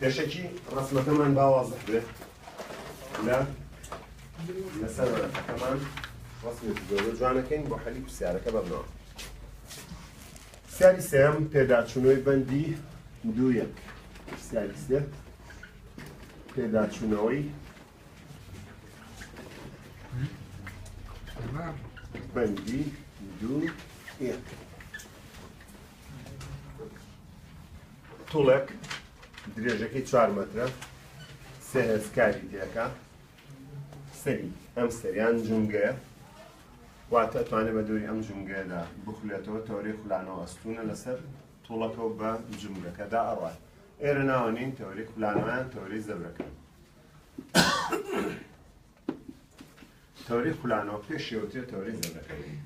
پێشەکی ڕەسمەکەمان با وازح بێ لە لەسەر وەرەقەکەمان ڕەسمێکی زۆر جوانەکەین بۆ حەلی پرسیارەکە بەبنەوە پرسیاری سێم پێداچوونەوەی بەندی دوو یەک پرسیاری سێ پێداچوونەوەی بەندی دوو یەک توڵێک درێژەکەی چوار مەترە سێ هێزکاری تێکە سەری ئەم سەریان جونگەیە واتە توانێت بە دووری ئەم جونگەیەدا بخولێتەوە تەوری خولانەوە ئەستونە لەسەر توڵەکەەوە بە جونگەکەدا ئەڕات ئێرە ناوە نین تەوری خولانەوەیان تەوری زەبرەکە تەوەرەی خولانەوە پێشێ وترێ تەوەرەی زەبرەکەوری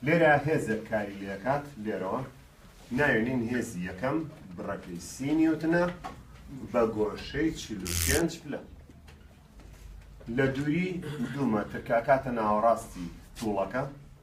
لێرە هێزێک کاری لێکات لێرەوە ناوێنین هێزی یەکەم بڕەکەی سی نیوتنە بە گۆشەی چل و پێنج پلە لە دووری دوو مەتر کاکاتە ناوەڕاستی تووڵەکە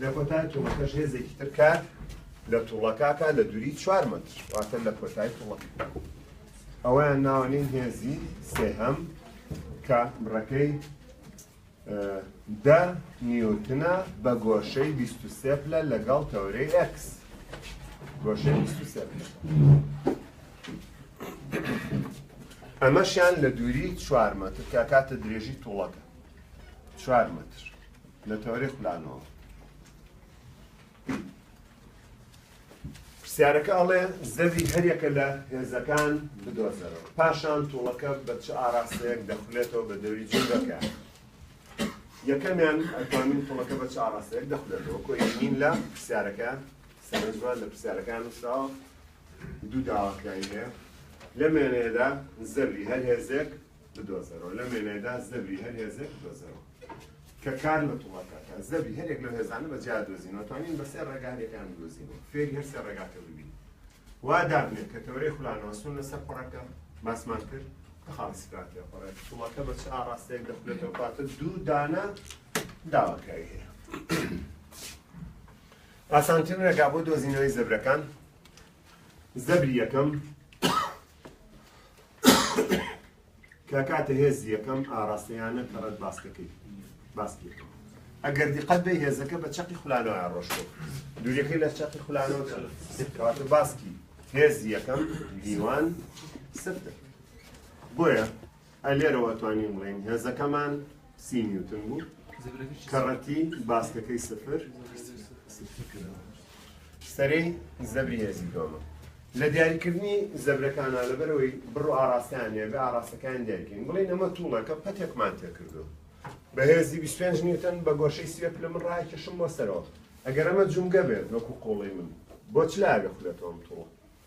لە کۆتای توڵەکەش هێزێکی تر کات لە توڵەکاکە لە دووری چوار مەتر واتە لە کۆتای توڵەکە ئەوەیان ناوەنین هێزی سێهەم کە بڕەکەی دە نیوتنە بە گۆشەی 23 پلە لەگەڵ تەورەی ئەکس گۆشەی 23 پلە ئەمەشیان لە دووری چوار مەتر کە کاتە درێژی توڵەکە چوار مەتر لە تۆری خولانەوە. پرسیارەکە ئەڵێ زەوی هەریەکە لە هێزەکان بدۆزەرەوە پاشان توڵەکە بە چ ئاراستەیەک دەخولێتەوە بە دەوری جوگەکە یەکەمیان ئەتوانین توڵەکە بە چ ئاراستەیەک دەخولێتەوە کۆین لە پرسیارەکە سەرنجمان لە پرسیارەکان نووسراوە دوو داواکراوی هەیە لە مێنێدا زەوی هەر هێزێک بدۆزەرەوە لەم وێنەیەدا زەبری هەر هێزێک بدۆزەرەوە کە کار لە توڵەکە کە زەبری هەرێک لە هێزانە بە جیا دۆزینەوە توانین بە سێ ڕێگا هەرێکیان بدۆزینەوە فێری هەر سێ ڕێگاکە ببین وا دابنێت کە تەورەی خولانەوە سون لەسەر پڕەکە باسمان کرد کە خاڵی سکراتیە پڕێ توڵەکە بە چ ئاڕاستەیەک دەخولێتەوە پاتە دوو دانە داواکاری هەیە ئاسانترین ڕێگا بۆ دۆزینەوەی زەبرەکان زەبری یەکەم کە کاتە هێزی یەکەم ئاراستەیانە کە ڕێت باسکەکەی باسکێکەوە ئەگەر دیقەت بە هێزەکە بە چەقی خولانەوە ڕۆشتۆ دوورەکەی لە چەقی خولانەوە کەواتە باسکی هێزی یەکەم دیوان سفتە بۆیە ئە لێرەوە ئەتوانین بڵێین هێزەکەمان سی نیوتن بوو کە ڕەتی باسکەکەی سفر سەرەی زەبری هێزی دۆمە لە دیاریکردنی زەبرەکانە لەبەرەوەی بڕ و ئاراستیان هەیە بە ئاراستەکان دیارکەین بڵێن ئەمە توڵەکە پەتێکمان تێکردو بەهێزی 25 نیوتن بە گۆشەی سوێ پلە من ڕای کەشم بۆ سەرەوە ئەگەر ئەمە جومگە بێت وەکو قۆڵی من بۆ چ لاوێ خولێتەوەم توڵە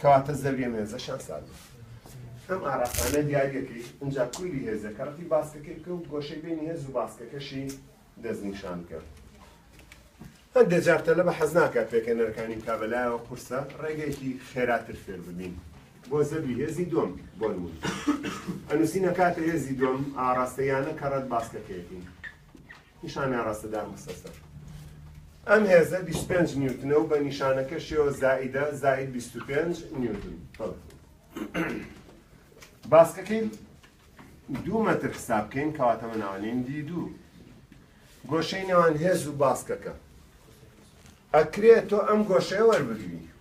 کەواتە زەویە مێزەشان ساردە. ئەم ئاراستانە دیاریەکەی ئنجا کویلی هێزە کە ڕەتی باسکەکەی بکە و گۆشەی بەینی هێز و باسکەکەشی دەست نیشان بکە. هەندێ جار تەلەبە حەز ناکات پێکەنەرەکانی بکا بە لایەوە قورسە ڕێگەیەکی خێراتر فێر ببین بۆ زەبری هێزی دووەم بۆ نموونە ئەنووسینە کاتە هێزی دووەم ئاڕاستەیانە کە ڕەت باسکەکەیەتی. نیشانەی ڕەسەدان بسە سەر. ئەم هێزە بیست و پێنج نیوتنە و بە نیشانەکەشیەوە زائیدە زائید بیست و پێنج نیوتن. باسکەکەی دوو مەتر حساب بکەین کەواتەمە ناوانین دی دوو. گۆشەی نێوان هێز و باسکەکە. ئەکرێت تۆ ئەم گۆشەیە وەربگری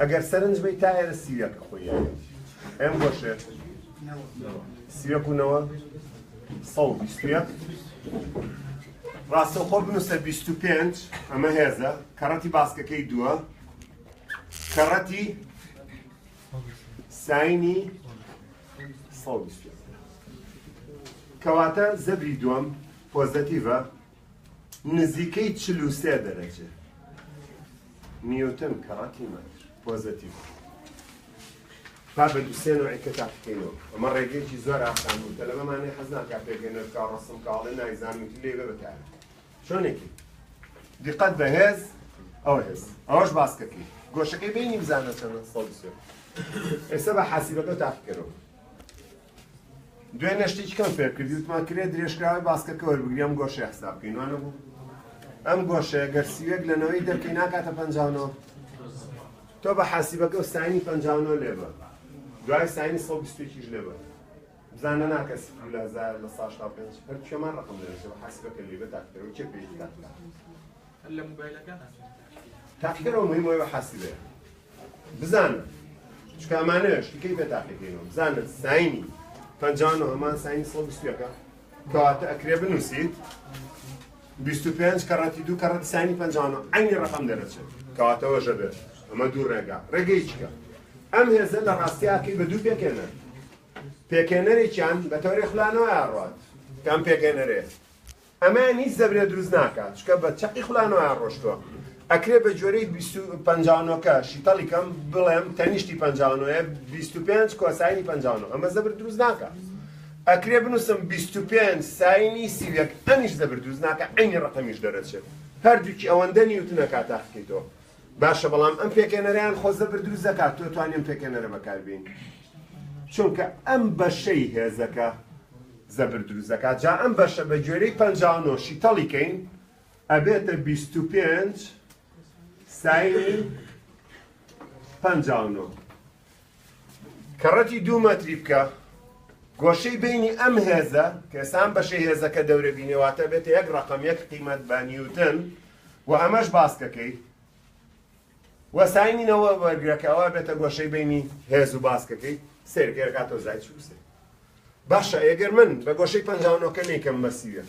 ئەگەر سەرنج بەی تا ئێرە سیویەکە خۆی ئەم بۆشێت سیوەک و نەوە سەڵ بیستویەک ڕاستەوخۆ بنووسە 25 ئەمە هێزە کەڕەتی باسکەکەی دووە کەڕەتی ساینی کەواتە زەبری دووەم پۆزەتیڤە نزیکەی چل و سێ دەرەجە نیوتن کەڕەتی مەتر پۆزەتیڤ با بە دوسێ نوعی کە تاقیکەینەوە ئەمە ڕێگەیەکی زۆر ئاسان بوو تەلەبەمانێ حەزناکە پێگەنەرکە ڕسم کاڵێ نایزانوت لێ بەتار چۆنێکی دیقەت بەهێز ئەو هێز ئەوەش باسکەکەی گۆشەکەی بینی بزانە سەمە سەڵ ئێستا بە حاسیبەکە تاقیکەرەوە دوێنێ شتێکی کەم فێر کردی وتمان کرێ درێژکراوی باسکەکە وەربگری ئەم گۆشەیە حساب بکەین وانە بوو ئەم گۆشەیە گەر سیوێک لە نەوەی دەرکەی ناکاتە پەنجاونەوە تۆ بە حاسیبەکە و ساینی پەنجاونەوە لێ بە دوای ساینی سەد بیستێکیش لێ بە بزانە ناکە سفر لە هەزار لە ساش تا پێنج هەر کێمان ڕقم لێ بە حاسیبەکە لێ بە تاکتەوە چێ پێی تاکتەوە هەر لە موبایلەکان ناتوانن تاقیکەرەوە. تاقیکەرەوە موهیمە ئێوە حاسیبێ بزانن چونکە ئەمانەش تیکەی پێ تاقیکەینەوە بزانن ساینی پەنجا و نۆ هەمان ساینی سەد و بیست و یەکە کەواتە ئەکرێ بنووسیت بیست و پێنج کەڕەتی دوو کەڕەتی ساینی پەنجا و نۆ عەینی ڕەقەم دەرەچێت کەواتەوە ژە بێت ئەمە دوو ڕێگا ڕێگەی چیکە ئەم هێزە لە ڕاستیاکەی بە دوو پێکێنەر پێکێنەرێکیان بە تەوری خولانەوە ئاڕات کام پێکێنەرێ ئەمەیان هیچ زەبرێ دروست ناکا چونکە بە چەقی خولانەوەیان ڕۆشتوە ئەکرێ بە گوێرەی بیست و پەنجا و نۆ کە شیتەڵی کەم بڵێم تەنیشتی پەنجا و نۆ یە بیست و پێنج کۆساینی پەنجا و نۆ ئەمە زەبر دروست ناکا ئەکرێ بنووسم بیست و پێنج ساینی سی و یەک ئەمیش زەبر دروست ناکا عەینی ڕەقەمیش دەرەچێ هەردووکی ئەوەندە نیوتنە کاتاخکەیتەوە باشە بەڵام ئەم پێکێنەرەیان خۆزە بردروست دەکات تۆ توانی ئەم پێکێنەرە بەکاربین چونکە ئەم بەشەی هێزەکە زەبر دروست دەکات جا ئەم بەشە بە گوێرەی پەنجاونۆ شیتەڵی کەین ئەبێتە بیست و پێنج ساینی پەنجاونۆ کەڕەتی دوو مەتری بکە گۆشەی بینی ئەم هێزە کە ئێسان بەشەی هێزەکە دەورە بینێ واتە بێتە یەک ڕقم یەک قیمەت بە نیوتن و ئەمەش باسکەکەی وەساینینەوە وەرگەکەەوە بێتە گۆشەی بینی هێز و باسکەکەی سێرگەرگاتۆ زای چوسێ باشە ئێگەر من بە گۆشەی پەنجاونەکە نیکەم بەسیوێت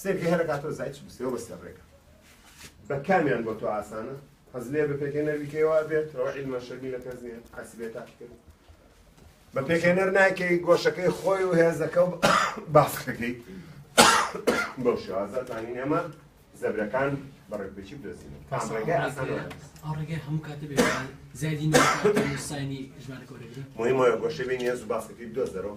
سێ گهر ئەکا تۆ زای چ بی سێ بە سێ ڕێگە بە کامیان بۆ تۆ ئاسانە حەز لێ بە پێکێنەر بیکەیەوە ئەبێت ئەوە عیلمە شەرمی لە کەس نییە حەسی بێ تاقیکردن بە پێکێنەر ناکەی گۆشەکەی خۆی و هێزەکە و باسخەکەی بەو شێوازە زانین ئێمە زەبرەکان بەڕێکبێکی بدەزینەوە کام ڕێگەی ئاسان ئەو ڕێگەی هەموو کاتە بێ زیادی نووسانی ژمارە گۆرەگرە مهمە گۆشەبێ نیاز و باسەکەی بدۆزەرەوە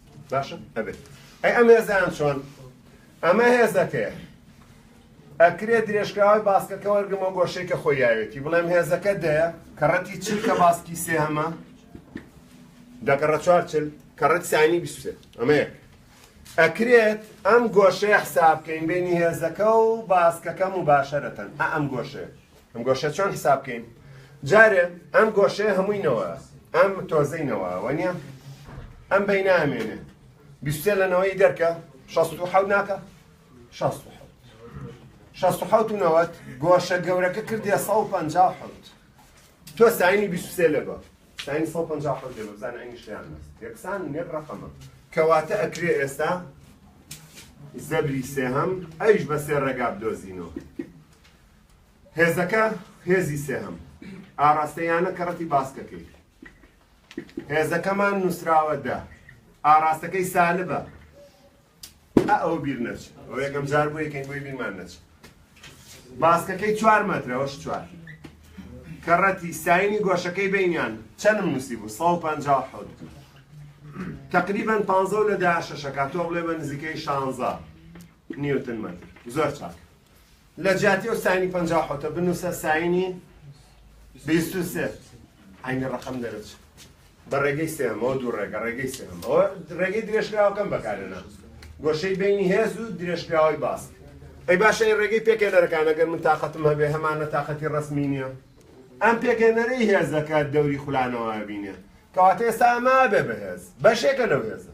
باشە ئەبێت ئەی ئەم هێزەیان چۆن ئەمە هێزەکەیە ئەکرێ درێژکراوی باسکەکە وەرگمە گۆشەی کە خۆی یاوێتی بڵێم هێزەکە دەیە کەڕەتی چل کە باسکی سێ هەمە دەگەڕە چوار چل کەڕەت سانی بیسێ ئەمە یەک ئەکرێت ئەم گۆشەیە حساب بکەین بینی هێزەکە و باسکەکەم و باشەرەتەن ئەم گۆشەیە ئەم گۆشە چۆن حساب بکەین جارێ ئەم گۆشەیە هەمووی نەوە ئەم تۆزەی نەوەوە نیە ئەم بەی نامێنێ بیستێ لە نەوەی دەرکە شەست و حەوت ناکە شەست و حەوت شەست و حەوت و نەوەت گۆشە گەورەکە کردێ سە و پەنج حەوت تۆ ساینی بیستێ لەگە ساینی سە پەنج حەوت لێ بزان ئەنی شیان بەس یەکسان نێک ڕەقەمە کەواتە ئەکرێ ئێستا زەبری سێهەم ئەویش بە سێ ڕێگا بدۆزینەوە هێزەکە هێزی سێهەم ئاڕاستەی یانە کەڕەتی باسکەکەی هێزەکەمان نووسراوە دە ئاڕاستەکەی سالبە ئەو بیر نەچ ئەو یەکەم جار بۆ یەکەین بۆی بیرمان نەچ باسکەکەی چوار مەترەوەش چوار کەڕەتی ساینی گۆشەکەی بینیان چەندم نووسی بوو 150 تقریبا پ لە دا شەشەکە تۆ بڵێ بە نزیکەی شانزە نیوتن مەتر زۆر چاک لە جیاتی ئەو ساینی پەنجا و حەوتە بنووسە ساینی بیست و سێ عینی ڕەقەم دەرەچێت بە ڕێگەی سێمەوە دوو ڕێگە ڕێگەی سێمەوە ڕێگەی درێژکراوەکەم بەکارێنا گۆشەی بینی هێز و درێژکراوەی باس ئەی باشە ڕێگەی پێکێنەرەکان ئەگەر من تااقەتم هەبێ هەمانە تااقەتی ڕسمی نییە ئەم پێکێنەرەی هێز دەکات دەوری خولانەوە بینێ کەواتە ئێستا ئەمە بێ بەهێز بەشێکە لەو هێزە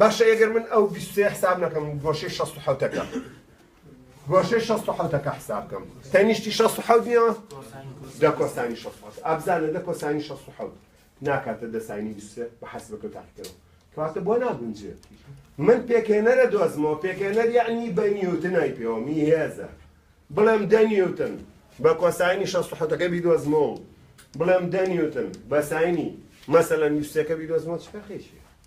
باشە ئەگەر من ئەو بیست و سێ حساب نەکەم و گۆشەی شەست و حەوت ەکەم گۆشەی شەست و حەوت ەکە حساب بکەم تەنیشتی شەست و حەوت نییە دە کۆسانی شەست و حەوت ئابزانە دە کۆسانی شەست و حەوت ناکاتە دە ساینی بیست و سێ بە حەسبەکە تاقیکەرەوە کەواتە بۆ ناگونجێ من پێکێنەرە دۆزمەوە پێکێنەر یعنی بە نیوتنای پێوە می هێزە بڵێم دە نیوتن بە کۆسانی شەست و حەوتەکە بیدۆزمەوە بڵێم دە نیوتن بە ساینی مەسەلەن یوسەکە بیدۆزمەوە چ فەرقێکی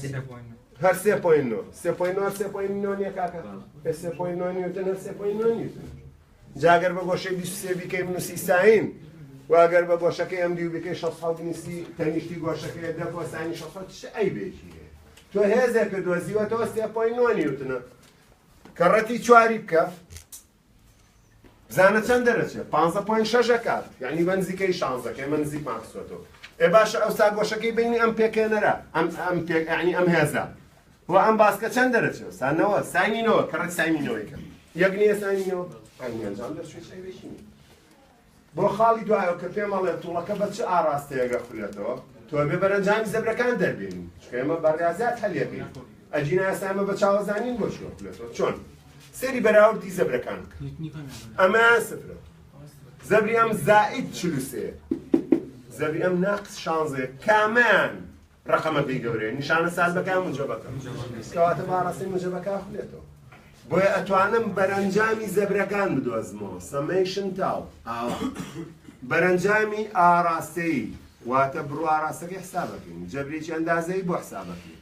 سێ پۆین نۆ هەر سێ پۆین نۆ سێ پۆین نۆ سێ پۆین نۆ نیە کاکە هەر سێ پۆین نۆ نیوتن هەر سێ پۆین نۆ نیوتن جاگەر بە گۆشەی بیست سێ بیکەی بنووسی ساین واگەر بە گۆشەکەی ئەم دیو بکەی شەست حەوت نیستی تەنیشتی گۆشەکەی دە بۆ ساینی شەست حەوت چ عەیبێکی هەیە تۆ هێزێکە دۆزیوەتەوە سێ پۆین نۆ نیوتنە کەڕەتی چواری بکە بزانە چەند دەرەچێ پانزە پۆین شەش ئەکات یعنی بە نزیکەی شانزە کە ئێمە نزیکمان خستۆتەوە ئێ باشە ئەوسا گۆشەکەی بینی ئەم پێکێنەرە ئەم ئەم پێک یعنی ئەم هێزە و ئەم باسکە چەند دەرەچێ سانەوە ساینینەوە کەڕێک ساینینەوەی کەم یەک نییە ساینینەوە ئەنجام دەرچوی سەیرێکی نییە بۆ خاڵی دوایەوە کە پێم ئەڵێ توڵەکە بە چ ئاڕاستەیەک ئەخولێتەوە تۆبێ بەرەنجامی زەبرەکان دەربێنین چونکە ئێمە بە ڕیازیات هەلیەکەین ئەگینا ئێستا ئێمە بە چاوەزانین بۆ چی ئەخولێتەوە چۆن سەری بەراوردی زەبرەکان بکە ئەمەیان سفرە زەبری ئەم زائید چلوسێ زەبری ئەم ناقص شانزێ کامیان ڕەقەمەکەی گەورەیە نیشانە سازەکان موجەبەکە کەواتە باڕەسەی موجەبەکە خولێتەوە بۆیە ئەتوانم بەرەنجامی زەبرەکان بدۆزمەوە سەمەیشن تاو ئاوا بەرەنجامی ئاراستەی واتە بڕ ئاراستەکەی حسابەکەین جەبرێکی ئەندازەی بۆ حسابەکەین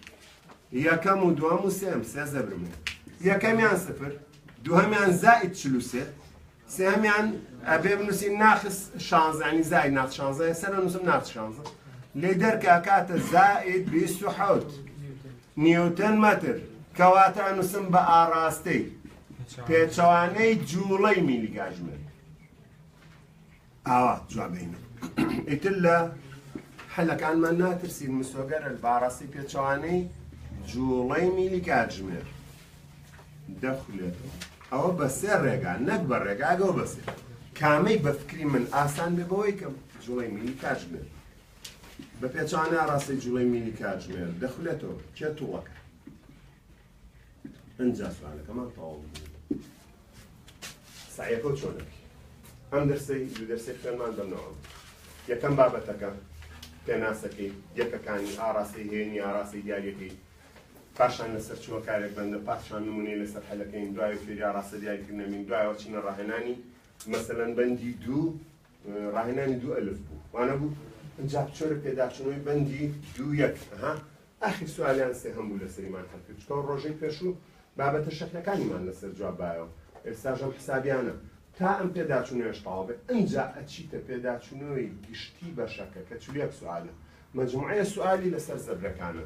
یەکەم و دوم و سێم سێ زەبرمێن یەکەمیان سفر دوهەمیان زائید چلوسێ سێهەمیان ئەبێ بنووسین ناقص شانزە یعنی زائد ناقص شانزە سەر نووسم ناقص شانزە لێ دەرکە کاتە زائد بیست و حەوت نیوتن مەتر کەواتە ئەنووسم بە ئاڕاستەی پێچەوانەی جوڵەی میلیگاژمێر ئاوات جواب دەینێت ئیتر لە حەلەکانمان ناترسین مسۆگەر الباڕەسی پێچەوانەی جوڵەی میلی کاتژمێر دەخولێتەوە ئەوە بە سێ ڕێگا نەک بە ڕێگاگەەوە بەسێ کامەی بە فکری من ئاسان بێ بەوەی کەم جوڵی میلی کاتژمێر بە پێچانە ڕاستی جوڵی میلی کاتژمێر دەخولێتەوە کێ توڵەکە ئەنجا سوالەکەمان تەواو بوو سعیەکە و چۆنەک ئەم دەرسەی دوو دەرسی خوێنمان بەمنەوە یەکەم بابەتەکە پێناسەکەی یەکەکانی ئاراسی هێنی ئاراسی دیارەکەی پاشان لەسەر چوە کارێک بەندە پاشان نمونەی لەسەر حەلەکەین دوای فێری ئاراستە دیاریکردنەمین دوایەوە چینە ڕاهێنانی مەسەلەن بەندی دوو ڕاهێنانی دوو ئەلف بوو وانە بوو ئەجا چۆرە پێداچنەوەی بەندی دوو یەک ها ئاخیر سوالیان سێ هەم بوو لەسەریمان هەلکرد چکەوە ڕۆژەی پێشوو بابەتە شەکرەکانیمان لەسەر جواب بایەوە ئێستاش هەم حسابیانە تا ئەم پێداچونەوەش تەواو بێ ئەنجا ئەچیتە پێداچونەوەی گشتی بەشەکە کە چل و یەک سوالە مەجموعەیە سوالی لەسەر زەبرەکانە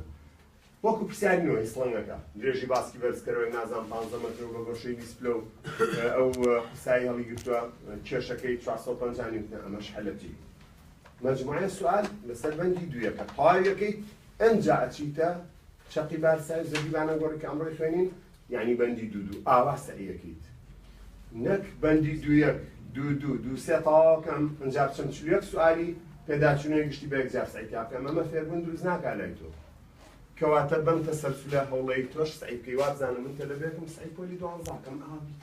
وەکو پرسیاری نۆ هی سڵنگەکە درێژی باسکی بەرزکەرەوەی نازان پانزە مەترو بە گۆشەی بیست پلە و ئەو قورسایی هەڵیگرتووە کێشەکەی چوار سەد و پەنجا نیوتنە ئەمەش هەلەجی مجموعە سوال لەسەر بەندی دوویەکە تەواوی ئەکەیت ئەنجا ئەچیتە چەقی بارسای زەبی بانەگۆڕی کە ئەمڕۆی خوێنین یعنی بەندی دوو دوو ئاوا سەعیەکەیت نەک بەندی دوویەک دوو دوو دوو سێ تەواوەکەم ئەنجا بچم چل یەک سوالی پێداچوونەوەی گشتی بە یەکجار سەعیتا بکەم ئەمە فێربوون دروست ناکا لای تۆ کەواتە بەم تەسەلسولە هەوڵەی تۆش سەعی بکەی وابزانم من تەلەبەیەکم سەعی پۆلی دوانزاکەم ئاوا بیت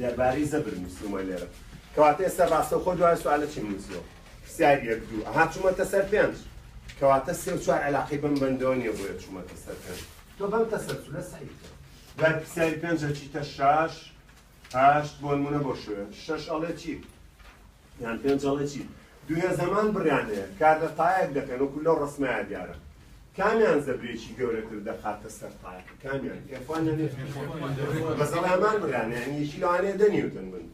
دەربارەی زەبر نووسیومە لێرە. کەواتە ئێستا ڕاستەوخۆ دوای سوالە چیم نووسیوە؟ پرسیار یەک دوو. ئەها چوومەتە سەر پێنج. کەواتە سێ و چوار عەلاقەی بەم بەندەوە نییە بۆیە چوومەتە سەر پێنج. تۆ بەم تەسەلسولە سەعی بکە. دوای پرسیاری پێنج ئەچیتە شەش، هەشت، بۆنموونە بۆ شوێن شەش ئەڵێ چی؟ یان پێم جەڵێ چی دوێ زەمان بڕیان هەیە کار لە تایەک دەکەن وەکو لەو ڕەسمایە دیارە کامیان زەبرێکی گەورەتر دەخاتە سەر تایەکە کامیان ئێفوان لە نێ بەزەڵ هەمان بڕیان یان یەکی لەوانەیە دە نیوتن بن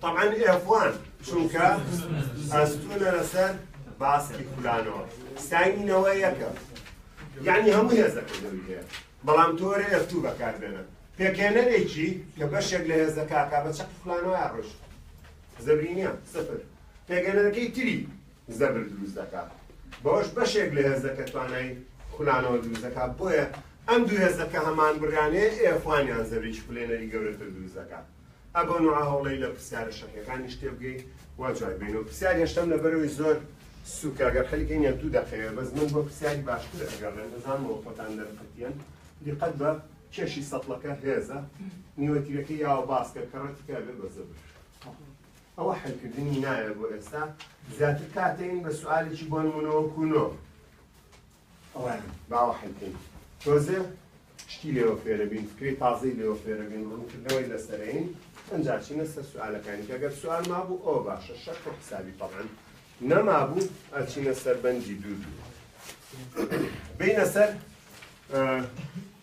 طبعا ئێفوان چونکە ئەستونە لەسەر باسکی خولانەوە ساینینەوە یەکە یعنی هەموو هێزەکە دەوی هەیە بەڵام تۆرە ئەفتوو بەکار بێنە پێکێنەرێکی کە بەشێک لە هێزەکە کا بە چەق فلانەوە ڕۆشت زەبرینە، سفر، پێگەنەرەکەی تری زەبر دروست دەکا، بەوەش بەشێک لە هێزەکە توانای خولانەوە دروست دەکا، بۆیە ئەم دوو هێزە کە هەمان بڕانەیە ئێ خوانیان زەبرێکی خولێنەری گەورەتر دروست دەکا. ئە بۆ نوعە هەوڵەی لە پرسیارە شەقیەکانیش تێ بگەی و جوای بینەوە. پرسیاری هەشتەم لەبەرەوەی زۆر سوکە گەر حەلی کەین یان دوو دەقەیە بەس من بۆ پرسیاری باشتر ئەگەڕێم دەزانمەوە خۆتان دەرقەتیەن دیقەت بە کێشی سەتڵەکە هێزە نیوەتیرەکەی یاوە باسکە کە ڕەتی کە ئەبێ بە زەبر. ئەوە حەلکردنی ناوێ بۆ ئێستا زیاتر کاتێن بە سوالێکی بۆ نمونەوەکو نۆ ئەوان باوە حەلکەین تۆزێ شتی لێوە فێرەبین فکری تازەی لێوە فێرەبین ڕوونکردنەوەی لەسەرین ئەجا چینە سەر سوالەکانی کەگەر سوال مابوو ئەو باشە شەق و حسابی تەڵەن نەمابوو ئەچینە سەر بەنجی دوو دوو بینە سەر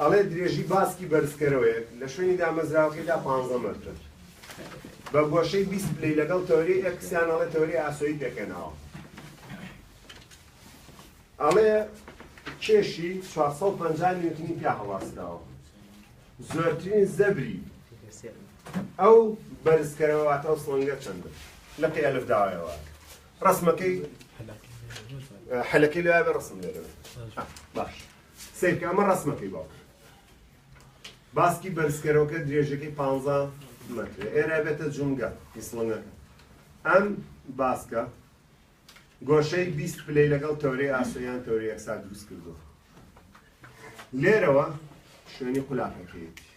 ئەڵێ درێژی باسکی بەرزکەرەوەیەک لە شوێنی دامەزراوەکەیدا پانزە مەترە بە گۆشەی بیست پلەی لەگەڵ تەوەرەی ئێکس یان ئەڵێ تەوەرەی ئاسۆیی پێکهێناوە. ئەڵێ کێشی چوار سەد و پەنجا نیوتنی پیا هەڵواسراوە. زۆرترین زەبری ئەو بەرزکەرەوە واتە ئەو سڵنگە چەندە لقی ئەلف داوایەوە ڕسمەکەی حەلەکەی لەوێ ڕسم لێرەوە باش. سەیرکە ئەمە ڕەسمەکەی باوکم باسکی بەرزکەرەوەکە درێژەکەی پ مەتر ئێرە بێتە جونگە ئیسڵەنەکە ئەم باسکە گۆشەی بیست پلەی لەگەڵ تەورەی ئاسۆیان تەوری ئەکسا دروست کردو لێرەوە شوێنی قولاکەکەیەتی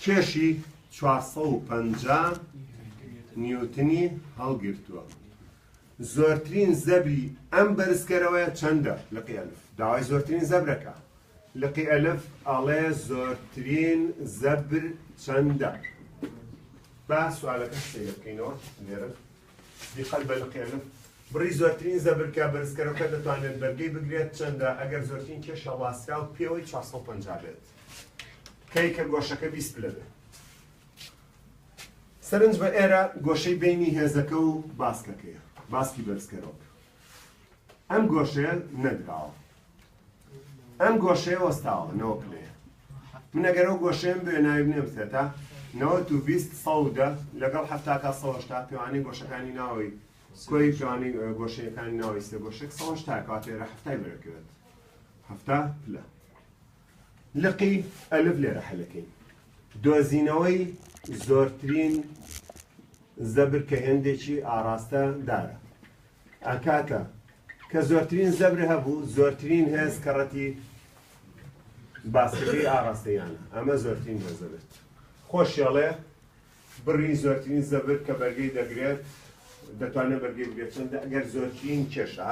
کێشی چوار سەد و پەنجا نیوتنی هەڵگرتووە. زۆرترین زەبری ئەم بەرزکەرەوەیە چەندە؟ لقی الف داوای زۆرترین زەبرە کە. لقی الف ئەڵێ زۆرترین زەبر چەندە؟ با سوالەکە سەیر بکەینەوە لێرە. دیقەت بە لقی الف بڕی زۆرترین زەبرکە بەرزکەرەوەکە دەتوانێت بەرگەی بگرێت چەندە ئەگەر زۆرترین کێشە ڕاستراو پێوەی 450 بێت. کەی کە گۆشەکە بیست پلە بێ. سەرنج بە ئێرە گۆشەی بینی هێزەکە و باسکەکەیە، باسکی بەرزکەرەوە. ئەم گۆشەیە نەدراوە. ئەم گۆشەیە وەستاوە نەوە پلەیە. من ئەگەر ئەو گۆشەیەم بێ ناوی بنێم سێتا، نەوەت و بیست سەد و دە لەگەڵ حەفتا تا سەد و هەشتا پێوانەی گۆشەکانی ناوەی کۆی پێوانەی گۆشەیەکانی ناوەی سێ گۆشەک سەد و هەشتا کەواتە ئێرە حەفتای بەرەکەوێت. هەفتا پلە. لقی ئەلف لێرە حەلەکەی. دۆزینەوەی زۆرترین زەبر کە هێندێکی ئاڕاستە دارە ئەکاتە کە زۆرترین زەبر هەبوو زۆرترین هێز کەڕەتی باسەکەی ئاڕاستەیانە ئەمە زۆرترین هێز دەبێت خۆشیاڵێ بڕی زۆرترین زەبر کە بەرگەی دەگرێت دەتوانێت بەرگەی بگرێت چەندە ئەگەر زۆرترین کێشە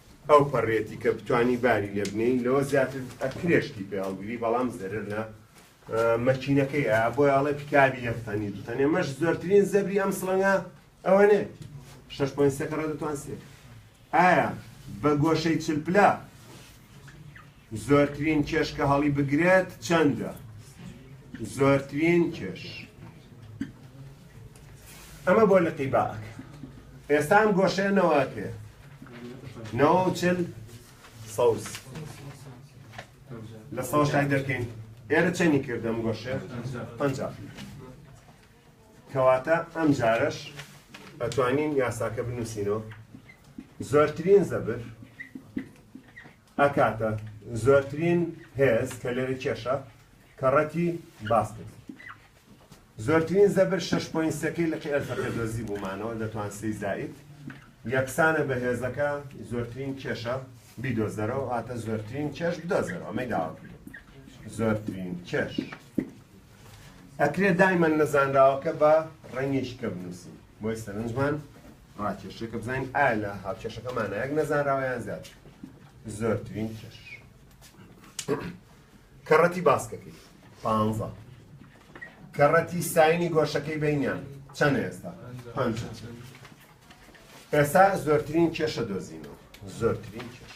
ئەو پەڕیەتی کە بتوانی باری لێ بنێی لەوە زیاتر ئەکرێ شتی پێ هەڵگری بەڵام زەرەر لە مەکینەکەی ئەیا بۆی ئەڵێ پیکابی یەک تەنی دوو تەنێ مەش زۆرترین زەبری ئەم سڵەنگە ئەوە نێ شەش پۆین سێکەڕە دەتوان سێ ئایا بە گۆشەی چل پلا زۆرترین کێش کە هەڵی بگرێت چەندە؟ زۆرترین کێش. ئەمە بۆ لقی باک ئێستا ئەم گۆشەیە نەوە پێ نەوە و چل سەوز لە سەوە شای دەکەین ئێرە چەنی کردم گۆشە پەنج کەواتە ئەم جارەش ئەتوانین یاساکە بنووسینەوە زۆرترین زەبر ئەکاتە زۆرترین هێز کە لەوێ کێشە کە ڕەتی باس کرد زۆرترین زەبر شەش پۆین سێکەی لقی ئەلفەکە دۆزی بوومانەوە لە توان سێی زائید یەکسانە بە هێزەکە زۆرترین کێشە بیدۆزەرەوە واتە زۆرترین کێش بدۆزەرەوە ئەمەی داوا کردو زۆرترین کێش ئەکرێ دایمەن نەزانراوەکە بە ڕەنگێکی کە بنووسین بۆیە سەرنجمان ڕاکێشێ کە بزانین ئایا لە هاوکێشەکە مانایەک نەزانراوە یان زیاد زۆرترین کێش کەڕەتی باسکەکەی پانزە کەڕەتی ساینی گۆشەکەی بینیان چەند ئێستا پنج ئێستا زۆرترین کێشە دۆزینەوە زۆرترین کێش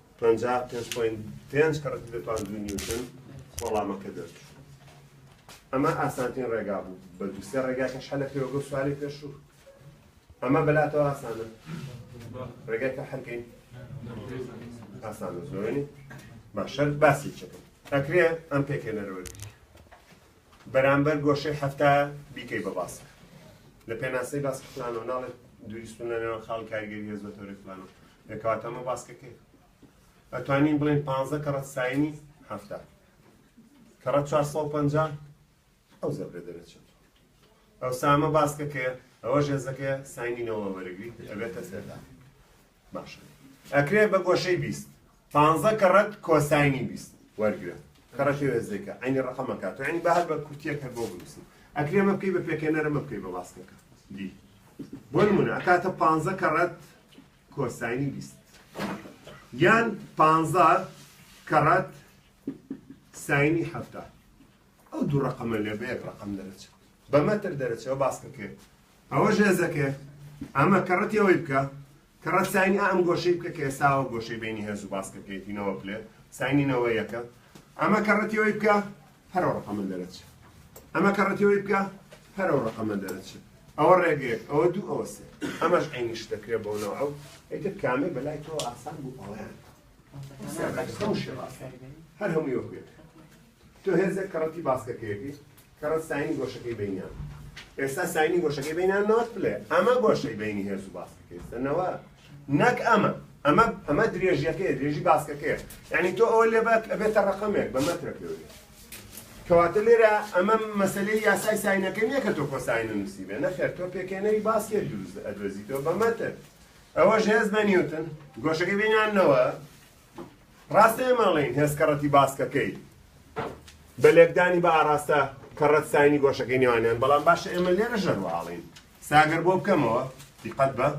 پەنجا و پێنج پۆینت پێنج کە ڕەسیدە تواند دوو نیوتن وەڵامەکە دەرچوو ئەمە ئاسانترین ڕێگا بوو بە دوو سێ ڕێگاکەش هەلە پێوەگە و سواری پێشوو ئەمە بەلاتەوە ئاسانە ڕێگای تا هەرکەین ئاسان زۆرنی باشەر باسی چەکە ئەکرێ ئەم پێکێنەرەوەی بەرامبەر گۆشەی حەفتا بیکەی بە باسک لە پێناسەی باسک فلانەوە ناڵێت دووری سونە نێوان خاڵی کاریگەری هێز بە تەوری فلانەوە دەکەواتە ئەمە باسکەکەی ئەتوانین بڵێن پانزە کەڕە ساینی هەفتا کەڕە 450 ئەو زەبرە دەرەچێت ئەو سامە باسکەکەیە ئەوە ژێزەکەیە ساینینەوە وەرەگری ئەبێتە سێدا باشە ئەکرێ بە گۆشەی بیست پانزە کەڕەت کۆساینی بیست وەرگرە کەڕە پێ وێزێکە عەینی ڕەقەمەکە تۆ عەینی با هەر بە کورتیەک هەر بۆ بنووسین ئەکرێ مە بکەی بە پێکێنەرە مە بکەی بە باسکەکە دی بۆ نمونە ئەکاتە پانزە کەڕەت کۆساینی بیست یان پانزە کەڕەت ساینی هەفتا ئەو دوو ڕەقەمە لێ بە یەک ڕەقەم دەرەچێ بە مەتر دەرەچێ و باسکە کێ ئەوە ژێزە کێ ئەمە کەڕەتی ئەوەی بکە کەڕەت ساینی ئەم گۆشەی بکە کە ئێساوە گۆشەی بینی هێز و باسکە کێتینەوە پلێ ساینی نەوە یەکە ئەمە کەڕەتی ئەوەی بکە پەرە ڕەقەمە دەرەچێ ئەمە کەڕەتی ئەوەی بکە پەرە ڕەقەمە دەرەچێ ئەوە ڕێگەیەک ئەوە دوو ئەوە سێ ئەمەش عینیش دەکرێ بۆ نەوە ئەو ئەیتر کامێ بەلای تۆ ئاسان بوو ئەوەیان هەر هەمووی وەکوێت تۆ هێزێک کەڕەتی باسکەکەیەتی کەڕەت ساینی گۆشەکەی بینیان ئێستا ساینی گۆشەکەی بینیان نەوەت پلێ ئەمە گۆشەی بینی هێز و باسکەکەیستەنەوە نەک ئەمە ئەمە ئەمە درێژیەکەی درێژی باسکەکەیە یعنی تۆ ئەوە لێبات ئەبێتە ڕقەمێک بە مەترە پێوێت کەواتە لێرە ئەمە مەسلەی یاسای ساینەکە نییە کە تۆ کۆساینە نووسی بێ نەخێر تۆ پێکێنەری باسکێ دروست ئەدۆزیتەوە بە مەتر ئەوەش هێز بە نیوتن گۆشەکەی بینانەوە ڕاستە ئێمە ئەڵێین هێز کەڕەتی باسکەکەی بە لێکدانی بە ئاراستە کەڕەت ساینی گۆشەکەی نێوانیان بەڵام باشە ئێمە لێرە ژەرواڵین ساگەر بۆ بکەمەوە دیقەت بە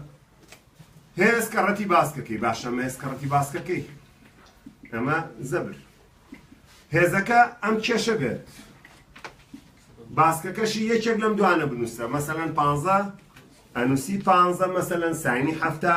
هێز کەڕەتی باسکەکەی باشە مێز کەڕەتی باسکەکەی ئەمە زەبر هێزەکە ئەم کێشە بێت باسکەکەشی یەکێک لەم دوانە بنووسە مەسەەن پ ئەنووسی پ مەسەەن ساینی هەفتا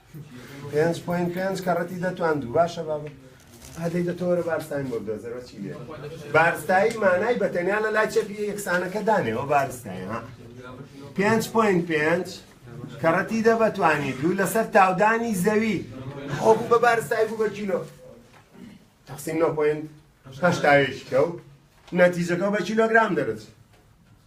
پێنج پوین پێنج کەڕەتی دەتواندوو باشە بابە هەدەی دەتۆرە بارستانی بۆ دۆزەرەوە چی لێ بارستایی مانای بە تەنیا لە لای چەپی یەکسانەکە دانێەوە بارستایی ها پێنج پوین پێنج کەڕەتی دە بەتوانی دوو لەسەر تاودانی زەوی خۆ بوو بە بارستایی بوو بە کیلۆ تەقسیم نۆ پوین هەشتاوێکی کەوت نەتیجەکە بە کیلۆگرام دەرەچێت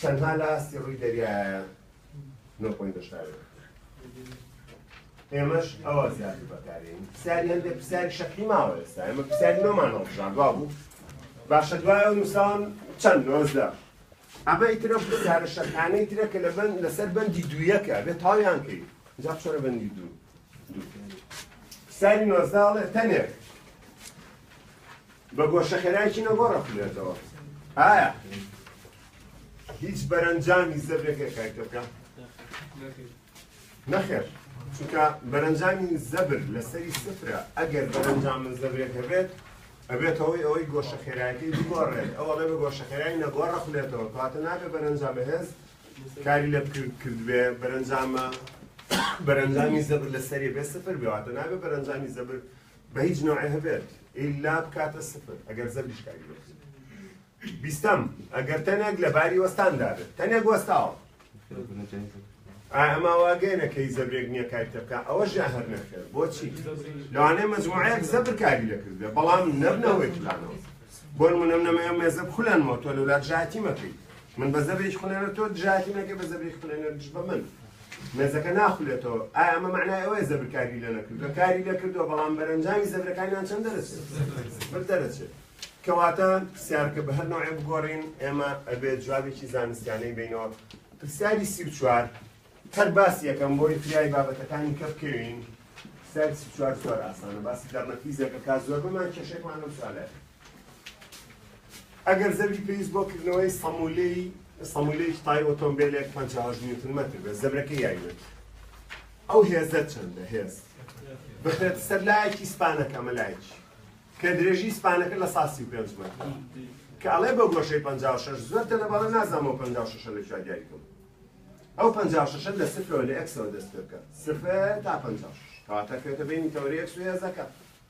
تەنها لە ئاستی ڕووی دەریایە نۆ پۆینت هەشتا و نۆ ئێمەش ئەوە زیاتر بەکارین پرسیاری هەندێک پرسیاری شەقی ماوە ئێستا ئێمە پرسیاری نۆمان هەڵبژان دوا بوو باشە دوای ئەو نووسان چەند نۆزدە ئەمە ئیترە پرسیارە شەقانەی ترە کە لە بەند لەسەر بەندی دوویەکە بێ تاویان کرد جا چۆرە بەندی دوو دوو پرسیاری نۆزدە هەڵێ تەنێک بە گۆشەخێرایەکی نەگۆڕ ئەخولێتەوە. ئایا هیچ بەرەنجامی زەبرێک هەیە کاری تێبکا؟ نەخێر. چونکە بەرەنجامی زەبر لەسەری سفرە ئەگەر بەرەنجام من زەبرێک هەبێت ئەبێتەوەی ئەوەی گۆشە خێرایەتی بگۆڕێت ئەوە لە گۆشە خێرای نەگۆڕ خولێتەوە کاتە نابێ بەرەنجام بەهێز کاری لە بکرد کردبێ بەرەنجامە بەرەنجامی زەبر لەسەری بێ سفر بێواتە نابێ بەرەنجامی زەبر بە هیچ نەوعێ هەبێت ئیلا بکاتە سفر ئەگەر زەبریش کاری بەرزی بیستەم ئەگەر تەنێک لە باری وەستان دابێت تەنێک وەستاوە ئەما واگەێنە کەی زەبرێک نییە کاری تەکە ئەوە ژە هەر نەکرد بۆچی لەوانێ مەجموعەیەک زەبر کاری دەکردێ بەڵام نەبنەوەی پلانەوە بۆ منم نەمەیە مێزە خولەنەوە تۆ لەولات ژاتی مەکەیت من بە زەبری خولێنە تۆ ژاتی نەکە بە زەبری خولێنە دژ بە من مێزەکە ناخولێتەوە ئایا ئەمە مەعنای ئەوەیە زەبر کاری لێ نەکردووە؟ کاری لێ کردووە بەڵام بەرەنجامی زەبرەکانیان چەند دەرەچێت؟ بەر دەرەچێت کەواتە پرسیارکە بە هەر نەوعێ بگۆڕین ئێمە ئەبێت جوابێکی زانستیانەی بینەوە پرسیاری سی و چوار هەر باس یەکەم بۆی فریای بابەتەکانی کە بکەوین پرسیاری سی و چوار زۆر ئاسانە باسی دەرنەفیزێکە کا زۆربەمان کێشێکمان لەم سوالە ئەگەر زەبری پێویست بۆ کردنەوەی سەمولەی سەمولەیەکی تای ئۆتۆمبێلێک 58 نیوتن مەتر بێت زەبرەکەی یاریوێت ئەو هێزە چەندە هێز بخرێت سەر لایەکی سپانەکە ئەمە لایەکی کە درێژی سپانەکە لە ساسی و پێنج مەتر کە ئەڵێ بە گۆشەی 56 زۆر تەنە بەڵێ نازانەوە 56 لە کوێ دیاری بکەم ئەو 56 لە سفرەوە لە ئەکسەوە دەست پێ بکات سفر تا 56 کەواتە کەوێتە بینی تەوری ئەکس و هێزەکە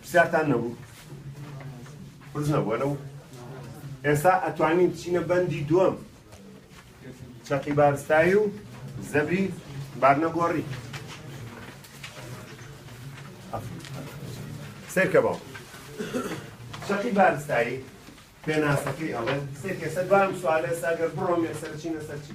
پرسیارتان نەبوو پرس نەبووە لەو ئێستا ئەتوانین بچینە بەندی دووەم چەقی بارستایی و زەبری بارنەگۆڕی سێکە باو چەقی بارستایی پێناسەکەی ئەڵێ سێکێ سەر دوام سوالێ ساگەر بڕۆم یەکسەر چینە سەرچی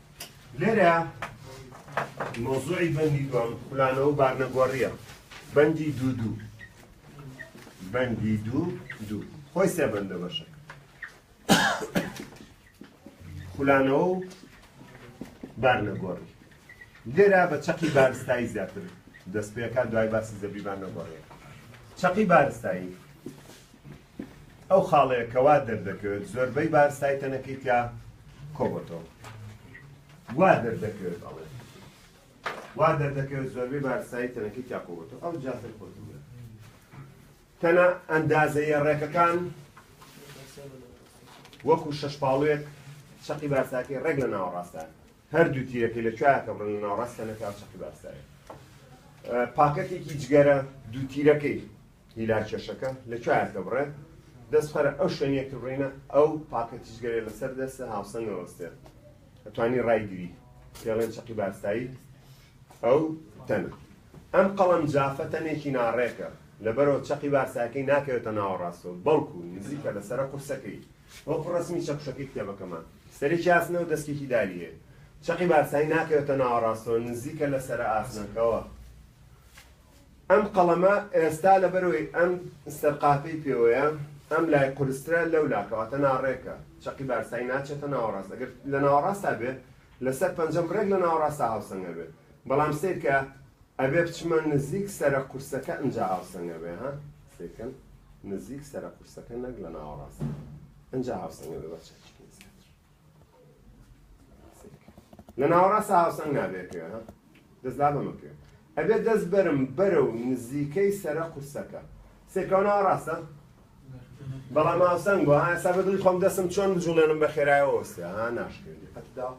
لێرە مەوزوعی بەندی دووەم خولانەوە و بارنەگۆڕییە بەندی دوو دوو بەندی دوو دوو خۆی سێ بەندە بەشە خولانەوە و بارنەگۆڕی لێرا بە چەقی بارستایی زیاتر دەست پێکات دوای باسی زەبیبان نەگۆڕێت چەقی بارستایی ئەو خاڵەیە کە وا دەردەکەوێت زۆربەی بار سای تەنەکەی تیا کۆبۆتەوە وا دەردەکەوێت ئەڵێ وا دەردەکەوێت زۆربەی بار سای تەنەکەی تیا کۆبۆتەوە ئەو جاسەر خۆتم تەنە ئەندازەیە ڕێکەکان وەکو شەش پاڵوێک چەقی بارساکەی ڕێک لە ناوەڕاستە هەردوو تیرەکەی لە کوایەکە بڕن لە ناوڕاستە نەکاو چەقی بارسایە پاکەتێکی جگەرە دوو تیرەکەی هیلا کێشەکە لەکوێیە کە بڕێ دەست پەرە ئەو شوێنیە کە بڕینە ئەو پاکە تیژگەرە لەسەر دەستە هاوسەنگ نەوەستێ ئەتوانی ڕای گری پێڵێن چەقی بارستایی ئەو تەنە ئەم قەڵەم جافە تەنێکی ناڕێکە لەبەرەوە چەقی بارساکەی ناکەوێتە ناوەڕاستەوە بەڵکو نزیکە لەسەرە قورسەکەی وەکو ڕسمی چەکشەکەی کتێبەکەمان سەرێکی ئاسنەوە دەستێکی داری هەیە چەقی بارسایی ناکەوێتە ناوەڕاستەوە نزیکە لەسەرە ئاسنەکەوە ئەم قەڵەمە ئێستا لەبەرئەوەی ئەم سەرقافەی پێوەیە ئەم لای قورسترە لەو لا کەواتە ناڕێکە چەقی بارستایی ناچێتە ناوەڕاست ئەگەر لە ناوەڕاستا بێ لەسەر پەنجەم ڕێک لە ناوەڕاستا هاوسەنگ ئەبێ بەڵام سەیرکە ئەبێ بچمە نزیک سەرە قورسەکە ئنجا هاوسەنگ ئەبێ ها سەیرکەن نزیک سەرە قورسەکە نەک لە ناوەڕاست ئنجا هاوسەنگ ئەبێ بەچەکی لە ناوەڕاست هاوسەنگ نابێت کوێ ها دەست لا بەمە کوێ ئەبێت دەست بەرم بەرە و نزیکەی سەرە قورسەکە سێکەوە ناوەڕاستە بەڵام هاوسەنگ بۆ ها سا بەدڵی خۆم دەستم چۆن بجوڵێنم بە خێرایەوە وەستێ ها ناشکرێت قەتدا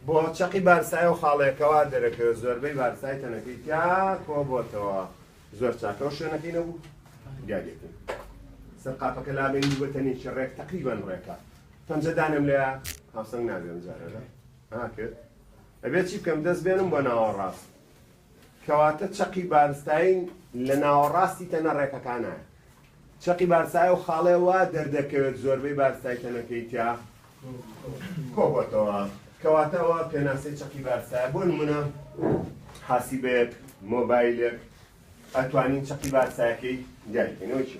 بۆ چەقی بارسای و خاڵێکەوە دەرەکەوێت زۆربەی بارسای تەنەکەی تیا کۆ بۆتەوە زۆر چاکە و شوێنەکەی نەبوو دیارێتی سەر قاپەکە لابێنی بەتەنێکی ڕێک تەقریبان ڕێکە پەنجە دانێم لێ هاوسەنگ نابێ ئەم جارە لە ها کرد ئەبێت چی بکەم دەست بێنم بۆ ناوەڕاست کەواتە چەقی بارستاین لە ناوەڕاستی تەنە ڕێکەکانە چەقی بارسای و خاڵێ وا دەردەکەوێت زۆربەی بارسای تەنەکەی تیا کۆبەتەوە کەواتەوە پێناسی چەقی بارسای بۆ نمونە حاسیبێت مۆبایلێک ئەتوانین چەقی بارسایەکەی دیارکەینەوە چی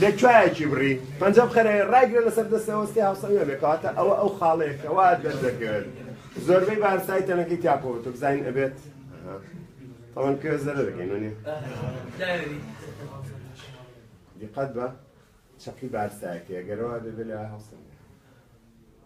لە کوایەکی بڕی پەنجە بخەرە ڕایگرە لەسەر دەستە وەستی هاوسەنگە بێ کەواتە ئەوە ئەو خاڵەیە کە وات دەردەکرد زۆربەی بارسای تەنەکەی تاپەوە تۆ بزانین ئەبێت تەوان کرێ زەرە دەکەین وەنی دیقەت بە چەقی بارسایەکە گەرەوە دەبێت لە هاوسەنگ